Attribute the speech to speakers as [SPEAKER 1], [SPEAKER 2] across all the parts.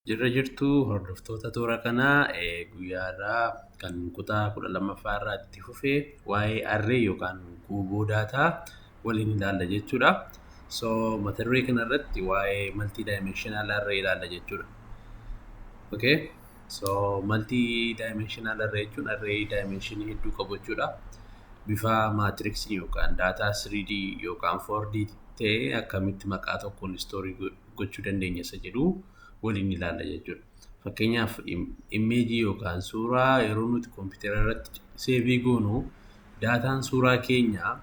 [SPEAKER 1] Jirra jirtu hordoftoota toora kanaa guyyaa irraa kan kutaa kudha lammaffaa irraa itti fufe waa'ee arree yookaan guuboo daataa waliin ilaalla jechuudha. So mata duree kana irratti waa'ee multi dimensional array ilaalla jechuudha. Okay. So multi dimensional array jechuun array dimension hedduu qabu jechuudha. Bifa maatiriksi yookaan daataa 3D yookaan 4D ta'ee akkamitti maqaa tokkoon istoorii gochuu dandeenya isa jedhu waliin ilaalla jechuudha. Fakkeenyaaf immeejii yookaan suuraa yeroo nuti kompiitara irratti seevii goonu daataan suuraa keenyaa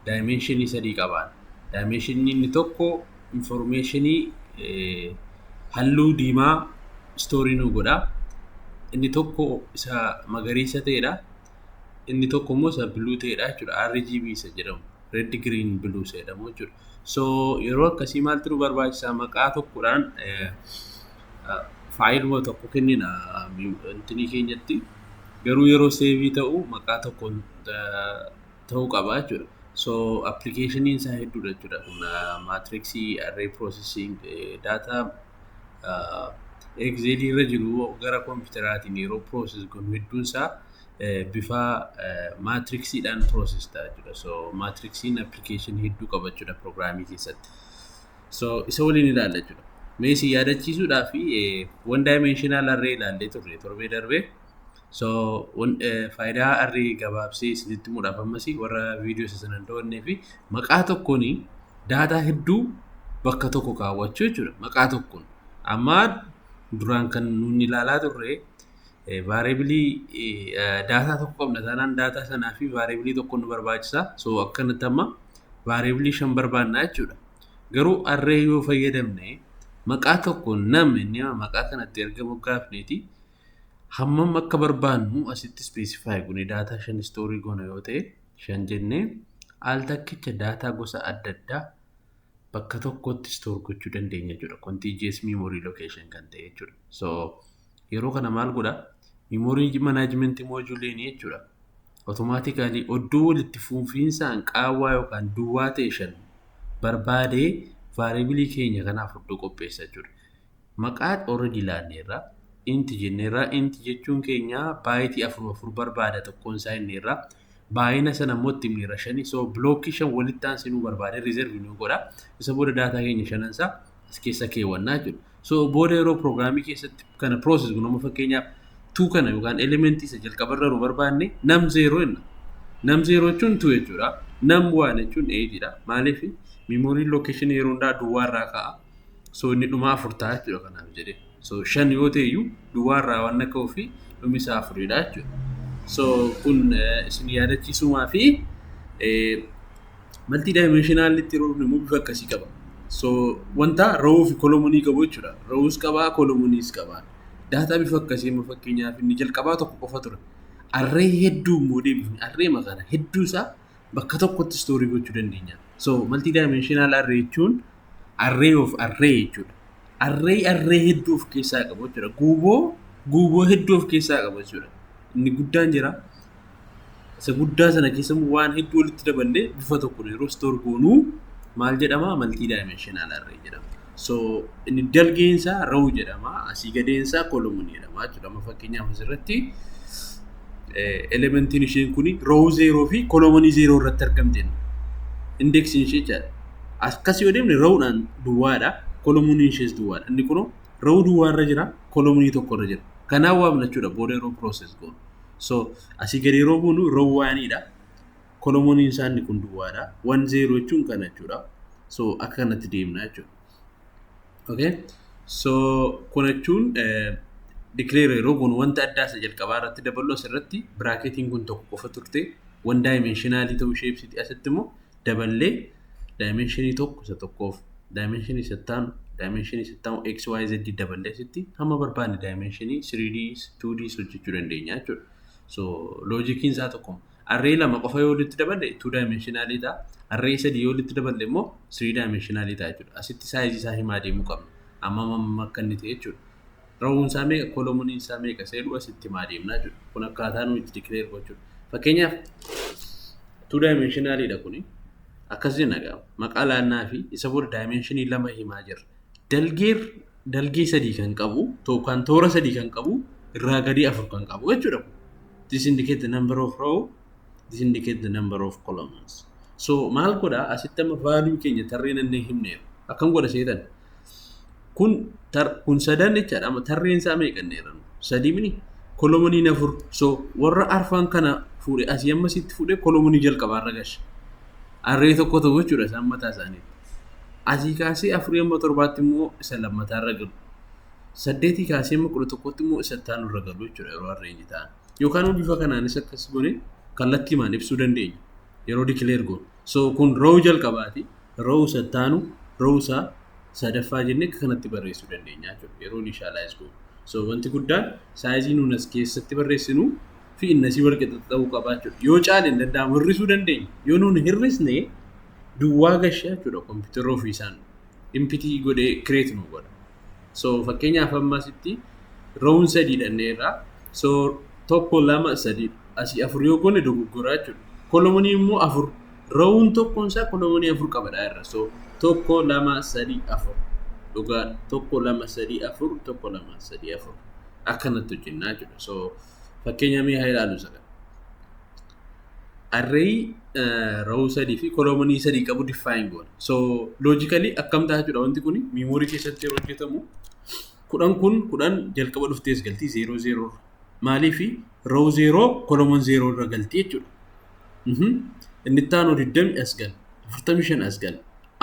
[SPEAKER 1] daayimeenshinii sadii qabaan. Daayimeenshinii inni tokko infoormeeshinii halluu diimaa istoorii nuu godha. Inni tokko isa magariisa ta'edha. inni tokko immoo isa biluu ta'edha jechuudha RGB isa jedhamu red green blue isa jedhamu jechuudha so yeroo akkasii maaltu nu barbaachisa maqaa tokkodhaan faayiluma tokko kennina intinii keenyatti garuu yeroo seevii ta'u maqaa tokkoon ta'uu qaba jechuudha so appilikeeshiniin isaa hedduudha jechuudha kun maatriksii arree piroosesiing daataa Excelii irra jiru gara kompiitaraatiin yeroo process godhu hedduun isaa bifa maatriksiidhaan process ta'a jechuudha. So maatriksiin application hedduu qaba jechuudha programmii keessatti. So isa waliin ilaalla jechuudha. Mee isin yaadachiisuudhaaf one dimensional array ilaallee turre torbee darbee. So faayidaa arri gabaabsee isinitti muudhaaf ammas warra viidiyoo isa sana hin daawwannee fi maqaa tokkoon daataa hedduu bakka tokko kaawwachuu jechuudha. Maqaa tokkoon. Amma duraan kan nuun ilaalaa turre vaareebilii daataa tokko qabna taanaan daataa sanaa fi vaareebilii tokko nu barbaachisa. So akkanatti amma vaareebilii shan barbaanna jechuudha. Garuu arree yoo fayyadamne maqaa tokkoon nam inni maqaa kanatti erga moggaafneeti Hammam akka barbaannu asitti specify gune daataa shan istoorii goona yoo ta'e shan jennee al takkicha daataa gosa adda addaa bakka tokkotti store gochuu dandeenya jechuudha. Contiguous memory location kan ta'e jechuudha. So yeroo kana maal godha? Memory management module jechuudha. Automatically oddoo walitti fufiinsaan qaawwaa yookaan duwwaa ta'e shan barbaadee variable keenya kanaaf oddoo qopheessa jechuudha. maqaa already laanneerra int jenneerra int jechuun keenya baayitii afur afur barbaada tokkoon isaa inneerra baay'ina sana immoo itti himneerra shani so blookkii shan walitti aansee nu barbaade reserve nu godha isa booda daataa keenya shanan isaa as keessa keewwannaa jechuudha so booda yeroo pirogiraamii keessatti kana process kun amma fakkeenyaaf tuu kana yookaan elementii isa jalqabarra nu barbaanne nam zeeroo jenna nam zeeroo jechuun tuu jechuudha nam waan jechuun eejiidha maaliif memory location yeroo hundaa duwwaarraa ka'a So inni dhumaa afur ta'a jechuudha kanaaf jedhee. So shan yoo ta'e iyyuu duwwaa irraa waan akka ofii dhumi isaa afuridha jechuudha. So kun eh, isin yaadachiisumaa fi eh, maltii daayimeeshinaalitti yeroo dhufne immoo bifa akkasii qaba. So wanta ra'uu fi kolomonii qabu jechuudha. Ra'uus qabaa kolomoniis qabaa. Daataa bifa akkasii immoo fakkeenyaaf inni jalqabaa tokko qofa ture. Arree hedduu immoo deebifne arree makaana hedduu isaa bakka tokkotti istoorii gochuu dandeenya. So maltii daayimeeshinaal arree jechuun array of array jechuudha. Array array hedduu of keessaa qabu jechuudha. Guuboo guuboo hedduu of keessaa qabu jechuudha. Inni guddaan jira. Isa guddaa sana keessa immoo waan hedduu walitti daballee bifa tokkoon yeroo store goonuu maal jedhama multi dimensional array jedhama. So inni dalgeen isaa row jedhama. Asii gadeen isaa column jedhama jechuudha. Amma fakkeenyaaf asirratti elementiin isheen kun row zeeroo fi kolomanii zeeroo irratti argamte indeeksiin ishee jechaadha. akkas yoo deemne rawudhaan duwwaadha kolominiin ishees duwwaadha inni kunoo rawuu duwwaa irra jira kolominii tokko irra jira kanaa waa bilachuudha booda yeroo process goonu so asii gadi yeroo buunu raw waaniidha kolominiin isaa inni kun duwwaadha wan zeeroo jechuun kana jechuudha so akka kanatti deemna jechuudha okay so kun jechuun declare yeroo goonu wanta addaa isa jalqabaa irratti daballu asirratti biraaketiin kun tokko qofa turte wan daayimenshinaali ta'uu ishee ibsiti asitti immoo daballee daayimeenshinii tokko isa tokkoof daayimeenshinii isa ittaanu daayimeenshinii isa ittaanu xyz daballee asitti hamma barbaanne daayimeenshinii 3D 2D hojjechuu dandeenya jechuudha. So loojikiin isaa tokkuma. Arree lama qofa yoo walitti daballe 2 daayimeenshinaalii ta'a. Arree sadii yoo walitti daballe immoo 3 daayimeenshinaalii ta'a jechuudha. Asitti saayizii isaa himaa deemuu qabna. Amma amma akka inni ta'e jechuudha. Rahuun isaa meeqa, kolomoniin isaa meeqa isa jedhu asitti himaa deemna jechuudha. Kun akkaataa nuyi itti declare gochuudha. Fakkeenyaaf two dimensionally dha kuni. Akkas jenna egaa maqaa laannaa fi isa booda dimensionii lama himaa jirra. Dalgee dalgee sadii kan qabu yookaan toora sadii kan qabu irraa gadii afur kan qabu jechuudha. This indicate the number of row, this indicate the number of columns. So maal godha asitti amma value keenya tarree nannee himneera. Akkam godha seetan Kun tar kun sadan jechaadha amma tarreen isaa meeqa inni jedhan sadii mini kolomoniin afur so warra arfan kana fuudhe asii amma sitti fuudhe kolomonii jalqabaa irra gashe arree tokko ta'u jechuudha isaan mataa isaaniitti asii kaasee afurii amma torbaatti immoo isa lammataa irra galu saddeetii kaasee amma kudha tokkotti immoo isa itti aanu irra galu jechuudha yeroo arreenyi ta'an yookaan bifa kanaanis akkas gone kallattiimaan ibsuu dandeenya. yeroo declare goonu. So kun row jalqabaati. Row isa ittaanu row isa sadaffaa jennee akka kanatti barreessuu dandeenya jechuudha. Yeroo initialize goonu. So wanti guddaan saayizii nuun as keessatti barreessinu fi inni asii wal qixa ta'uu qaba jechuudha. Yoo caale hin danda'amu hir'isuu dandeenya. Yoo nuun hir'isne duwwaa gasha jechuudha kompiitarri ofiisaan impiti godhee create nu godha so fakkeenyaaf amma asitti roon sadii dhanneerra so tokko lama sadii asii afur yoo goone dogoggoraa jechuudha kolomonii immoo afur roon tokkoon isaa kolomonii afur qabadha irra so tokko lama sadii afur dhugaa tokko lama sadii afur tokko lama sadii afur akkanatti hojjennaa jechuudha so fakkeenyaa mee haa ilaalu isa kana array row sadii fi koloomonii sadii qabu define goona. So logically akkam ta'a jechuudha wanti kun memory keessatti yeroo hojjetamu kudhan kun kudhan jalqaba dhuftees galtii zeeroo zeeroo maaliif row zeeroo kolomon zeeroo irra galtii jechuudha. Mhm. Inni itti aanu digdami as gal afurtami shan as gal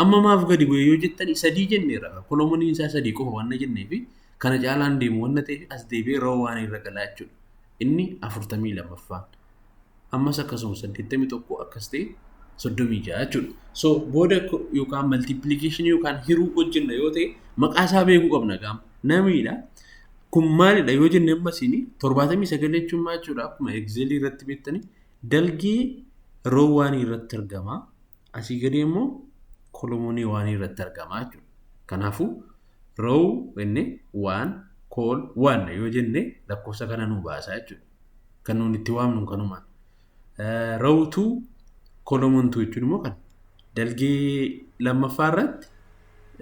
[SPEAKER 1] amma maaf gadi bu'e yoo jettani sadii jenneera kolomoniin isaa sadii qofa wanna jenneefi kana caalaan deemu wanna ta'eef as deebi'ee row waan irra galaa jechuudha. inni afurtamii lamaffaan ammas akkasuma saddeettamii tokko akkas ta'e soddomii ja'a jechuudha. So booda yookaan maltiipilikeeshinii yookaan hiruu hojjenna yoo ta'e maqaa isaa beekuu qabna gaama. Namiidha. Kun maalidha yoo jenne amma isin torbaatamii sagal jechuun maal jechuudha akkuma egzeelii irratti beektanii dalgee roowwaanii irratti argama. Asii gadii immoo kolomonii waanii irratti argama jechuudha. Kanaafuu row inni waan kool waan yoo jenne lakkoofsa kana nuu baasaa jechuudha. Kan nuun itti waamnu kanuma. Row tuu kolomon tuu jechuun immoo kan dalgee lammaffaa irratti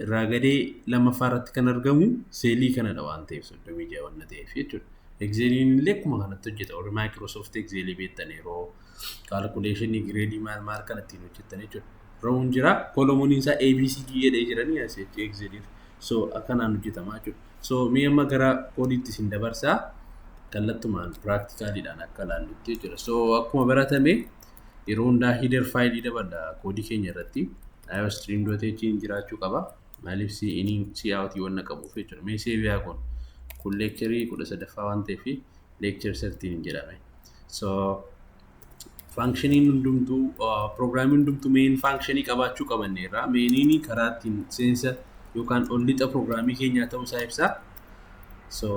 [SPEAKER 1] irraa gadee lammaffaa irratti kan argamu seelii kanadha waan ta'eef 36 waan ta'eef jechuudha. Excelin illee akkuma kanatti hojjeta. Warri Microsoft Excel beektan yeroo calculation gireedii maal maal kan ittiin hojjetan jechuudha. Roon jira, kolomoniin isaa ABCD jedhee jiranii as jechuudha Exceliif. So akkanaan hojjetama jechuudha. So mee amma gara koodiitti isin dabarsaa kallattumaan piraaktikaalidhaan akka ilaallutti jechuudha. So akkuma baratame yeroo hundaa hider faayilii dabadha koodii keenya irratti iostream.h hin jiraachuu qaba maaliif si inii si aawutii wanna qabuuf jechuudha mee seebiyaa kun kun leekcharii kudha sadaffaa waan ta'eef leekchar sartiin hin jedhame so faankshinii hundumtuu piroogiraamii hundumtuu meen faankshinii qabaachuu qabanne irraa meeniin karaa ittiin seensa yookaan ol lixa piroogiraamii keenyaa ta'uu isaa ibsaa So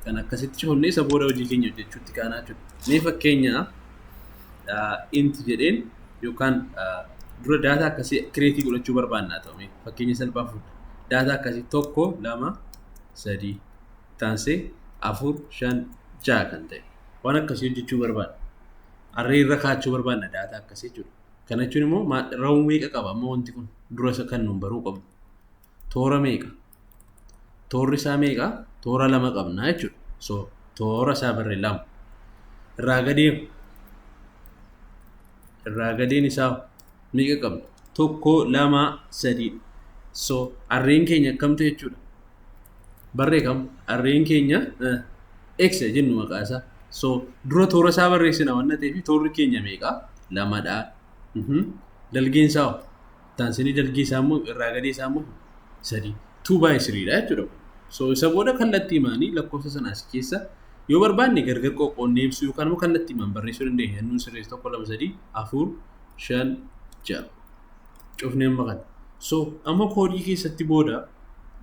[SPEAKER 1] kan akkasitti cufamne isa booda hojii keenya hojjechuutti kaanaa jiru. Mee fakkeenyaaf inti jedheen yookaan dura daataa akkasii kireetii godhachuu barbaannaa ta'u mee fakkeenya salphaa fuudha. Daataa akkasii tokko lama sadii taansee afur shan ja'a kan ta'e waan akkasii hojjechuu barbaanna. Arree irra kaachuu barbaanna daataa akkasii jechuudha. Kana jechuun immoo raawwii meeqa qaba amma wanti kun dura isa kan nuun baruu qabnu. toora meeqa? Toorri isaa meeqa? Toora lama qabna jechuudha. So toora isaa barre lama. Irraa gadeen irraa gadeen isaa meeqa qabna? Tokko, lama, sadii. So arreen keenya akkamtu jechuudha. Barree kam? Arreen keenya x jennu maqaa isaa. So dura toora isaa barreessina waan ta'eef toorri keenya meeqa? Lamadha. Dalgeen isaa taansanii dalgii isaa immoo irraa gadii isaa immoo sadii tuu baay'ee siriidha jechuudha. So isa booda kallattii maanii lakkoofsa sana asii keessa yoo barbaanne gargar qoqqoonnee ibsuu yookaan immoo kallattii maan barreessuu dandeenya. Hannuun sirreessi tokko lama sadii afur shan ja'a cufnee amma kana. So amma koodii keessatti booda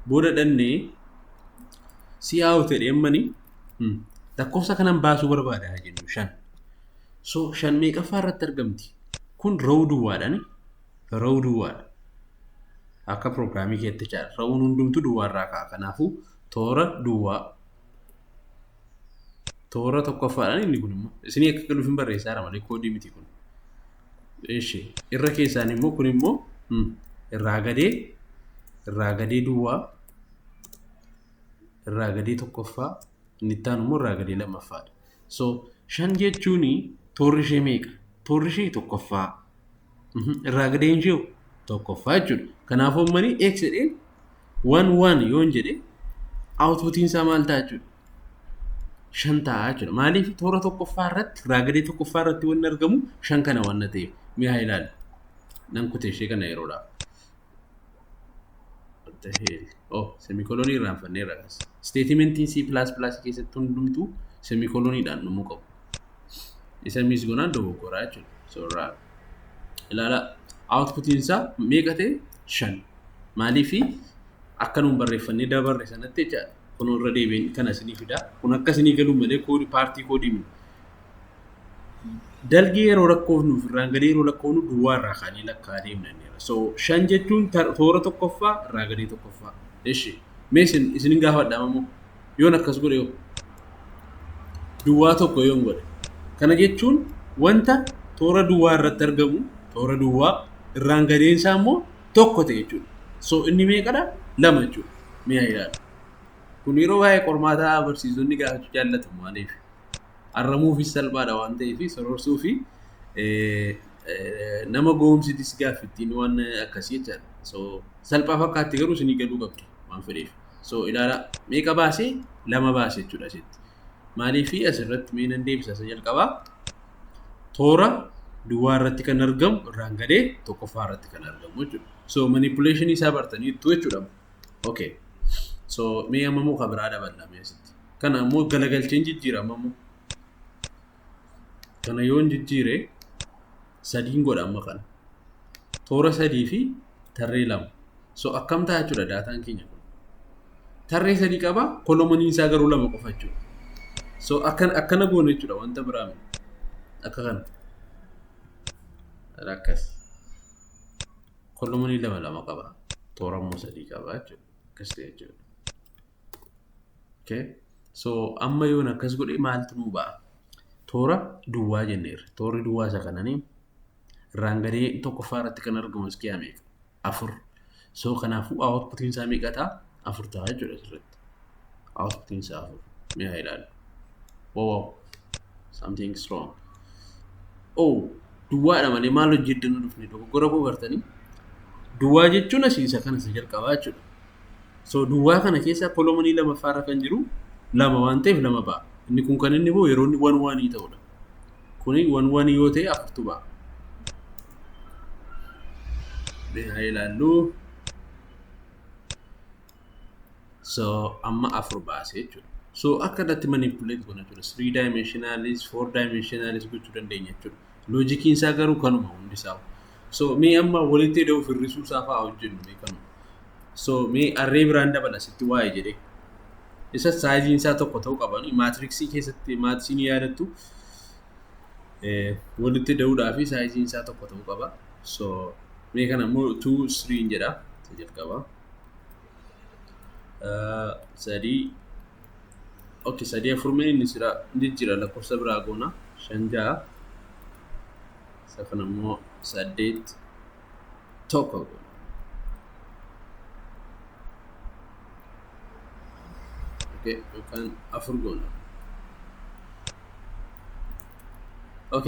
[SPEAKER 1] booda dhannee si'aa'u ta'e ammani lakkoofsa kanan baasuu barbaada jennu shan. So shan meeqaffaa irratti argamti? Kun row duwwaadhaan row duwwaadha. Akka pirogiraamii keetti jechaadha. Rowuun hundumtuu duwwaa irraa ka'a. Kanaafuu toora duwwaa toora tokkoffaadhaan inni kun immoo isinii akka galuuf hin barreessaara malee koodii miti kun. Eshi irra keessaan immoo kun immoo irraa gadee irraa gadee duwwaa irraa gadee tokkoffaa inni itti aanu immoo irraa gadee lammaffaadha. So, shan jechuun toorri ishee meeqa? Toorri ishee tokkoffaa. Mhm, Irraa gadeen ishee hoo? tokkoffaa jechuudha. Kanaafuu ammanii x jedheen waan waan yoon jedhe outputiin isaa maal ta'a jechuudha? shan ta'a jechuudha. Maaliif toora tokkoffaa irratti irraa gadee tokkoffaa irratti wanni argamu shan kana waan ta'eef mi'a ilaali. Nan kute ishee kana yeroodhaaf. What the hell? Oh, semikolonii irraanfanneerra akkas. Isteetimentiin C++ keessatti hundumtuu semikoloniidhaan dhumuu qabu. Isa miis gonaan dogoggoraa jechuudha. Soorraa. Ilaalaa. Outputiin isaa meeqa ta'e? Shan. Maaliifi akka nuun barreeffannee dabarre sanatti jechaadha. Kun irra deebiin kana isinii fida. Kun akka isinii galuu malee koodii paartii koodii miti. dalgee yeroo lakkoofnu irraan gadee yeroo lakkoofnu duwwaa irraa kaanee lakkaa deemna jenneera. So shan jechuun tar- toora tokkoffaa irraa gadee tokkoffaa. Eshi mee isin isin hin gaafadha ammoo yoon akkas godhe yoo duwwaa tokko yoon godhe. Kana jechuun wanta toora duwwaa irratti argamu toora duwwaa irraan gadeen isaa immoo tokko ta'e jechuudha. So inni meeqadha? Lama jechuudha. Mee haa ilaalu. Kun yeroo baay'ee qormaataa barsiisonni gaafachuu jaallatu maaliif? Arramuufis salphaadha waan ta'eef sororsuu fi nama goomsitis gaaffi ittiin waan akkasii jechaadha. So salphaa fakkaatti garuu isinii galuu qabdi waan fedheef. So ilaala meeqa baasee lama baase jechuudha asitti. Maaliif asirratti mee nan deebisa isa jalqabaa toora duwwaa irratti kan argamu irraan gadee tokkoffaa irratti kan argamu jechuudha. So manipulation isaa bartaniittu jechuudha. Okay. So mee amma muka biraa daballa mee asitti. kana ammoo galagalcheen jijjiira amma ammoo kana yoon jijjiire sadiin godha amma kana toora sadii fi tarree lama so akkam ta'a jechuudha daataan keenya kun tarree sadii qaba kolomaniin isaa garuu lama qofa jechuudha so akkan akkana goone jechuudha wanta biraa miti akka kana akkas kolomanii lama lama qaba toora immoo sadii qaba jechuudha akkas ta'e jechuudha Okay. So amma yoon akkas godhe maaltu nuu ba'a? Toora duwwaa jenneerra. Toorri duwwaa isa kananii irraan gadee tokkoffaa irratti kan argamu iskiyaa meeqa? Afur. So kanaafuu outputiin isaa meeqa ta'a? Afur ta'a jechuudha asirratti. Outputiin isaa afur. Mee haa ilaalu. Wow, wow. Something is wrong. Oh, duwwaadha malee maal hojjeddan dhufne dogoggora koo bartanii? Duwwaa jechuun asii isa kana isa jalqabaa jechuudha. So duwwaa kana keessaa kolomonii lamaffaa irra kan jiru lama waan ta'eef lama ba'a. Inni kun kan inni ba'u yeroo inni wan wanii ta'udha. Kuni wan wanii yoo ta'e afurtu ba'a. Mee haa ilaallu. So amma afur baase jechuudha. So akka irratti manipuleet goona jechuudha. Three dimensionalis, four dimensionalis gochuu dandeenya jechuudha. Loojikiin isaa garuu kanuma hundi isaa. So mee amma walitti ida'uu fi hir'isuu isaa fa'aa hojjennu mee kanuma. So mee arree biraan dabala sitti waa'ee jedhee. Isa saayiziin isaa tokko ta'uu qaban maatiriksii keessatti maatirisiin yaadattu eh, walitti ida'uudhaa fi saayiziin isaa tokko ta'uu qaba. So mee kana immoo 2 3 jedha isa jalqaba. Eh, sadii ok sadii afur mee inni sira inni jira lakkoofsa biraa goona shan ja'a isa kana immoo saddeet tokko goona. ok yookaan afur goona. ok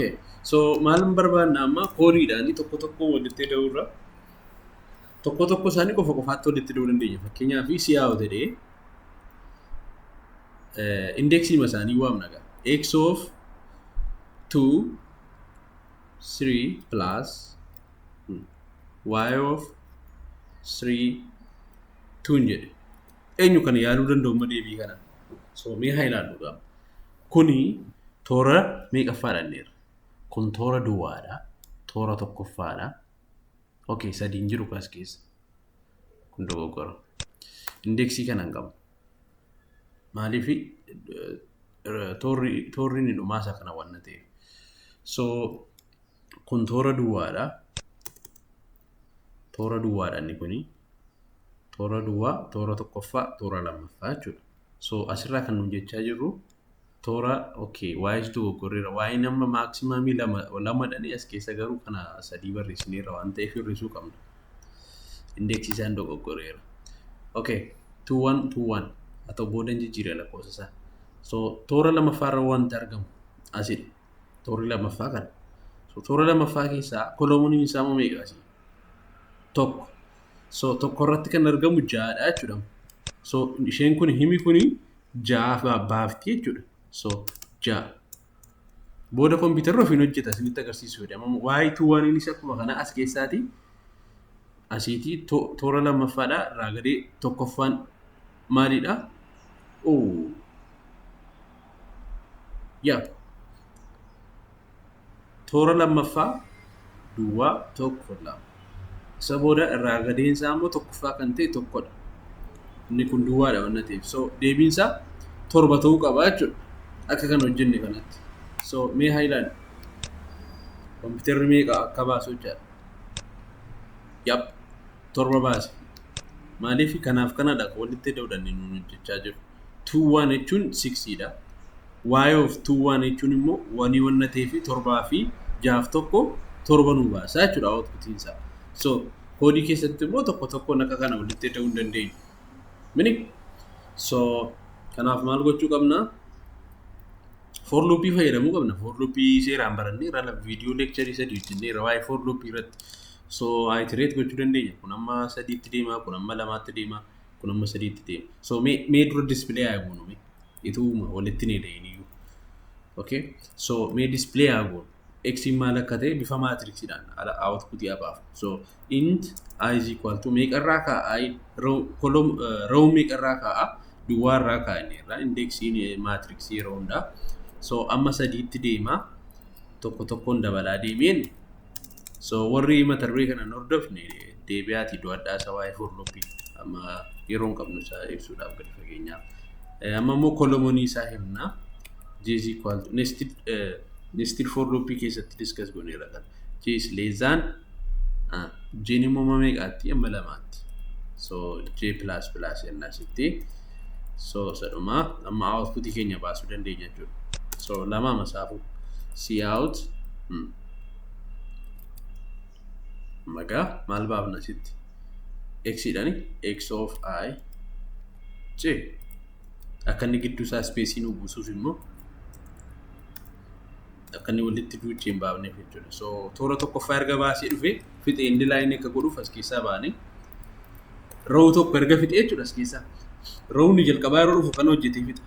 [SPEAKER 1] so maalin barbaadna amma koodiidhaani tokko tokko walitti ida'uu irra tokko tokko isaanii qofa qofaatti walitti ida'uu dandeenya fakkeenyaaf si'aa yoo ta'e indeksii masaanii waamna gaa x of 2 3 plus hmm, y of 3 tuun jedhe eenyu kana yaaluu danda'u ma deebii kana so mee haa ilaallu gaa kuni toora meeqaffaa dhanneerra kun toora duwwaadha toora tokkoffaadha okay sadiin jiru kaas keessa kun dogoggora indeeksii kana hin qabu maaliif toorri toorri inni dhumaa isa kana waan ta'eef so kun toora duwwaadha toora duwwaadha inni kuni toora duwwaa toora tokkoffaa toora lammaffaa jechuudha so asirraa kan nu jechaa jirru toora okay waa'ees dogoggorreera waa'een amma maaksimaamii lama lamadhani as keessa garuu kana sadii barreessineerra waan ta'eef hir'isuu qabna indeeksii isaan dogoggorreera okay tuuwwan tuuwwan haa ta'u booda jijjiirra lakkoofsa isaa so toora lammaffaarra wanti argamu asidha toorri lammaffaa kana so toora lammaffaa keessaa koloomuniin isaa moo meeqa asii tokko so tokko irratti kan argamu ja'adha jechuudha so isheen kun himi kuni ja'aafaa baafti jechuudha. So ja'a. Booda kompiitarri ofiin hojjeta isinitti agarsiisu jedhe. Amma waa'ee tuu waan innis akkuma kana as keessaati asiitii to- toora lammaffaadha irraa gadee tokkoffaan maalidha? Oo. Yaa. Toora lammaffaa duwwaa tokko lama. Isa booda irraa gadeen isaa immoo tokkoffaa kan ta'e tokkodha. Inni kun duwwaadha waan ta'eef. So deebiin isaa torba ta'uu qaba jechuudha. Akka kan hojjenne kanatti. So mee haa ilaalu. Kompiitarri meeqa akka baasu jechaadha. Yap torba baase. Maaliif kanaaf kanadha walitti dawdannee nuun hojjechaa jiru. tuu waan jechuun siksiidha. Waayee of tuu waan jechuun immoo wanii wanna ta'ee fi torbaa fi jaaf tokko torba nuu baasaa jechuudha outputiin isaa. So koodii keessatti immoo tokko tokkoon akka kana walitti ida'uu hin dandeenyu. Mini so kanaaf maal gochuu qabna? For loopii fayyadamuu qabna. For loopii seeraan barannee irra viidiyoo leekcharii sadii hojjennee irra waa'ee for loopii irratti so iterate gochuu dandeenya. Kun amma sadiitti deema, kun amma lamaatti deema. kun amma sadiitti ta'e so mee mee dura display haa goonu mee ituuma walitti ni da'in iyyuu okay so mee display haa goonu x maal akka ta'e bifa maatriksiidhaan ala output yaa baaf so int i is equal to meeqa irraa kaa'a i row column uh, row meeqa irraa kaa'a duwwaa irraa kaa'a inni irraa indeeksiin maatriksii yeroo hundaa so amma sadiitti deemaa tokko tokkoon dabalaa deemeen So warri mata duree kana hin hordofne deebi'aatii do'adhaa isa waa'ee horloppii amma yeroo hin qabnu isaa ibsuudhaaf gadi fageenyaa. Eh, Amma immoo kolomonii isaa himna. J is equal to nested, eh, nested for loop keessatti discuss goneera kan. J is less than ah, J ni immoo meeqaatti amma lamaatti. So J plus plus jennaa sitti. So sadhuma amma output keenya baasuu dandeenya jechuudha. So lama masaafuu. See out. Hmm. magaa maal baafna asitti x dhani x of i j akka inni gidduu isaa ispeesii nu buusuuf immoo akka inni walitti duuchee hin baafneef jechuudha so toora tokkoffaa erga baasee dhufee fixee inni laayinii akka godhuuf as keessaa baanee ra'uu tokko erga fixee jechuudha as keessaa ra'uun jalqabaa yeroo dhufu kan hojjetee fixa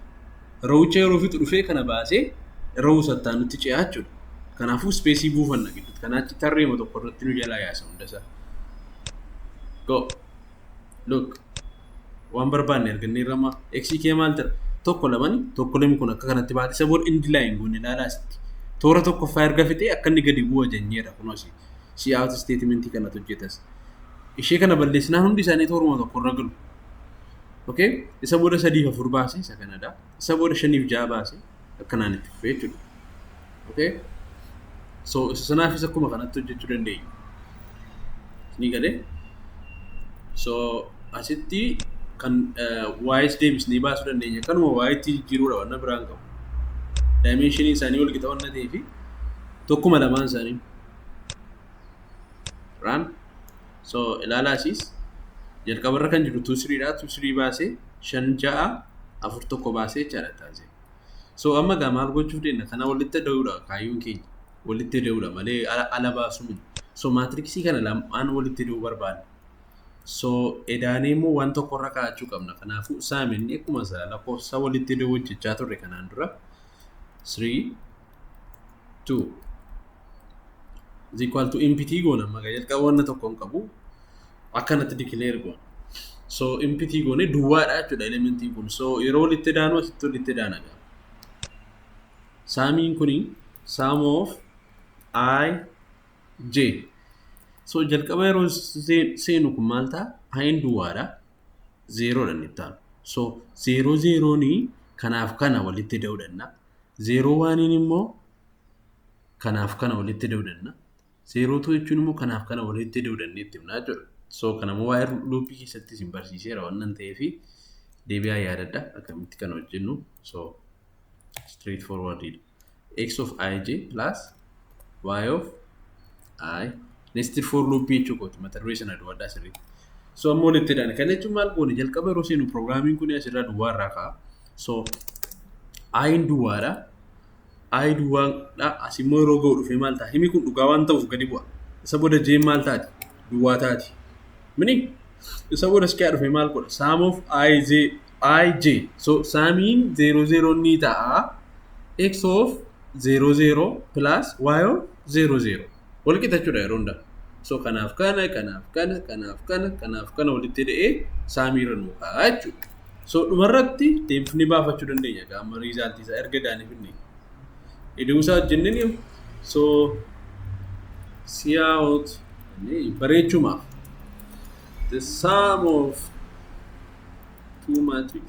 [SPEAKER 1] rawicha yeroo fixu dhufee kana baasee rawu sattaanutti ce'aa jechuudha. Kanaafuu ispeesii buufanna gidduutti. Kanaa achi tarreema tokko irratti nu jalaa yaasa hundasaa. Go. Look. Waan barbaanne argannee irramaa. Eksii kee maal tira? Tokko lamani tokko lami kun akka kanatti baate isa booda indi laayin goone ilaalaa asitti. Toora tokkoffaa erga fixee akka inni gadi bu'u ajanyeera kunoos. Si out isteetimentii kanatu hojjetas. Ishee kana balleessinaan hundi isaanii tooruma tokko irra galu. Okay? Isa booda sadiif afur baase isa kanadha. Isa booda shaniif ja'a baase akkanaan itti fufee jechuudha. Okay? So isa sanaafis akkuma kanatti hojjechuu dandeenya. Ni galee? So asitti kan waa'ees deebisnee baasuu dandeenya. Kanuma waa'eetti jijjiiruudha wanna biraan qabu. Daayimeenshinii isaanii wal qixa wanna ta'eefi tokkuma lamaan isaanii. Raan. so ilaalaa asiis jalqaba irra kan jiru tuu siriidha tuu sirii baasee shan ja'a afur tokko baasee jechaadha taasise so amma gaa maal gochuuf deemna kana walitti da'uudha kaayyoon keenya walitti da'uudha malee ala ala baasuu miti so maatriksii kana lamaan walitti da'uu barbaadna so edaanee immoo waan tokko irra kaa'achuu qabna kanaafuu saaminni akkuma isaa lakkoofsa walitti da'uu hojjechaa turre kanaan dura 3 2 is equal to impitii goona maga jalqaba wanna tokko hin qabu akkanatti declare goona so impitii goone duwwaadha jechuudha elementiin kun so yeroo walitti daanu asitti walitti daana gaa saamiin kuni sum of i j so jalqaba yeroo seenu kun maal ta'a ayin duwwaadha zeeroodha inni itti aanu. So zeeroo zeeroon kanaaf kana walitti ida'uu danda'a. Zeeroo waaniin immoo kanaaf kana walitti ida'uu danda'a. Zeeroo tuu jechuun immoo kanaaf kana walitti ida'uu danda'a itti himnaa jechuudha. So kana immoo waa'ee luuppii keessatti isin barsiiseera waan ta'eef deebi'aa yaadadha akkamitti kana hojjennu. So straight forward dha. x of ij plus y of i nested for loop jechuu kooti mata duree sana duwadhaa sirriitti. So amma walitti hidhana. Kana jechuun maal goone jalqaba yeroo seenu pirogiraamiin kun asirraa duwwaa irraa ka'a. So ayin duwwaadha. Ayi duwwaadha. As immoo yeroo ga'u dhufee maal ta'a? Himi kun dhugaa waan ta'uuf gadi bu'a. Isa booda jeen maal taati? Duwwaa taati. Mini isa booda iskaa dhufee maal godha? Saam of ayi jee i j so saamiin 0 0 ni ta'a x of 0 0 plus y of 0 0 wal qixa jechuudha yeroo hunda so kanaaf kana kanaaf kana kanaaf kana kanaaf kana walitti hidhee saamii irra nuu kaa'a jechuudha so dhumarratti deemfnee baafachuu dandeenya gaama riizaaltii isaa erga daanii fidne iduu isaa hojjenneen yoo so siyaa'oot bareechumaaf the sum of 2 matrix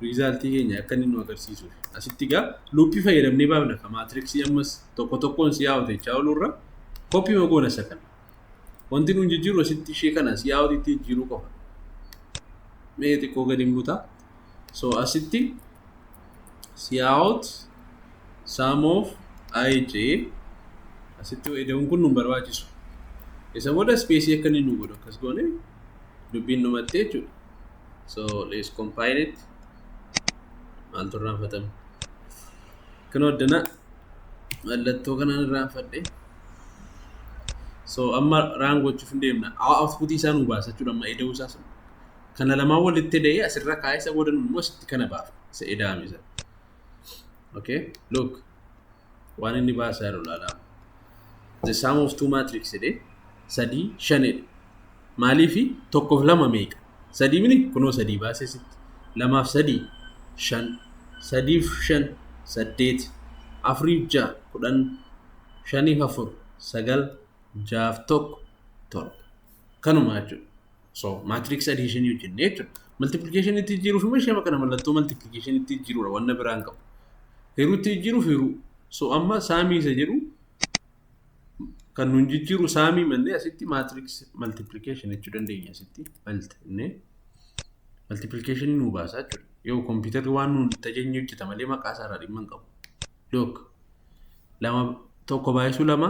[SPEAKER 1] result keenya akka inni nu agarsiisuuf asitti egaa luuppii fayyadamnee baafna ka maatriksii ammas tokko tokkoon si yaa'u jechaa oolurra koppii magoona isa kana wanti nuun jijjiiru asitti ishee kana si yaa'u itti jijjiiruu qofa mee xiqqoo gadi hin butaa so asitti cout sum of ij asitti ida'uun kun nu hin barbaachisu isa booda ispeesii akka inni nu godhu akkas goone dubbiin dhumattee jechuudha so let's compile it maaltu irraanfatame kan hoddana mallattoo kanaan irraanfadhe so amma raan gochuuf hin deemna output isaa nu baasa jechuudha amma ida'uu isaa sun kana lamaan walitti hidhee asirra kaa'ee isa booda immoo asitti kana baafna isa edaame sana. Okay, look waan inni baasaa jiru ilaalaa. The sum of two matrix jedhee sadii shanidha. Maaliifi tokkoof lama meeqa? Sadii mini kunoo sadii baasee sitti. Lamaaf sadii shan sadiif shan saddeet afuriif ja'a kudhan shaniif afur sagal jaaf tokko torba kanuma jechuudha. So maatiriksi adiishinii hojjennee jechuudha. Maltiplikeeshinii itti jijjiiruuf immoo ishee kana mallattoo maltiplikeeshinii itti jijjiiruudha wanna biraan qabu. Hiruu itti jijjiiruuf hiruu. So amma saamii isa jedhu kan nuun jijjiiru saamii mannee asitti maatiriksi maltiplikeeshin jechuu dandeenya asitti maltinee maltiplikeeshinii nuu baasaa jechuudha. Yoo kompiitarri waan nuun itti ajajni hojjeta malee maqaa isaarraa dhimma hin qabu. Dook lama tokko baay'isuu lama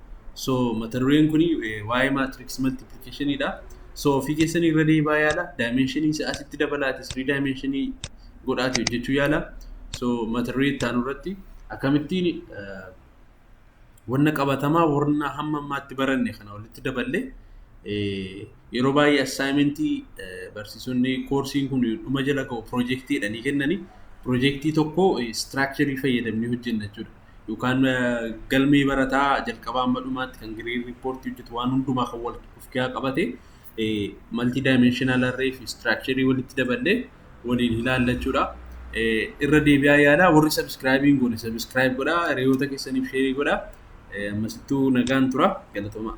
[SPEAKER 1] So mata dureen kun waa'ee maatriks maltiplikeeshinii dha. So ofii keessan irra deebaa yaala. Daayimenshinii isaa asitti dabalaati sirii daayimenshinii godhaati hojjechuu yaala. So mata duree itti aanu irratti akkamittiin wanna qabatamaa warna hamma ammaatti baranne kana walitti daballe yeroo baay'ee assaayimentii barsiisonni koorsiin kun dhuma jala ga'u piroojeektiidha ni kennani. Piroojeektii tokko istiraakcharii fayyadamnee hojjenna jechuudha. yookaan galmee barataa jalqabaa amma dhumaatti kan gireed riippoortii hojjetu waan hundumaa kan wal of keessaa qabate maltii daayimenshinaal arree fi istiraakcharii walitti daballee waliin ilaalla jechuudha. Irra deebi'aa yaalaa warri sabiskiraayibii hin goone sabiskiraayib godhaa hiriyoota keessaniif sheerii godhaa ammasittuu nagaan tura galatoomaa.